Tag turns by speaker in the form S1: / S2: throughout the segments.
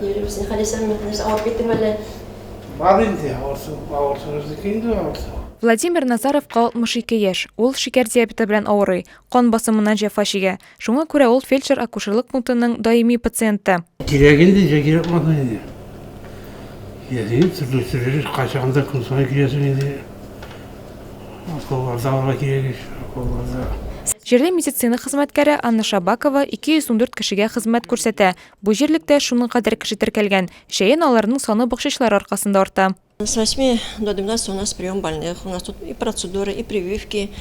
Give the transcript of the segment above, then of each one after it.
S1: Юрий
S2: Васильевич, Халисә Мөхлис, авырып киттең әле? Бар инде, авырсыныбыздыкы инде
S3: авырса. Владимир Назаровка 62 яшь. Ул шикәр диабеты белән авырый, кан басымыннан җәфа чигә. Шуңа күрә ул фельдшер-акушерлык пунктының даими пациенты. Кирәк инде, ничә
S2: кирәк булсын инде. Киләсең, төрле төрле кайчагында көн саен киләсең инде. Акылларда алга кирәк ич, акылларда. Җирле
S3: медицина хезмәткәре Анна Шабакова 214 кешегә хезмәт күрсәтә, Бу җирлектә шуның кадәр кеше теркәлгән. Җәен аларның саны бакчачылар аркасында арта. С восьми
S1: до двенадцати у нас прием больных, у нас тут и процедуры, и прививки.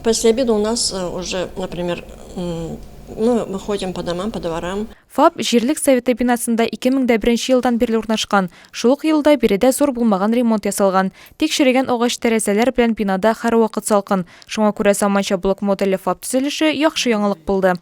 S1: После обеда у нас э, уже, например, мы выходим по домам, по дворам. ФАП җирлек
S3: советы бинасында 2001 елдан бирле урнашкан. Шул ук елда биредә зур булмаган ремонт ясалган. Тик черегән агач тәрәзәләр белән бинада һәрвакыт салкын. Шуңа күрә заманча блок модельле ФАП төзелеше яхшы яңалык булды.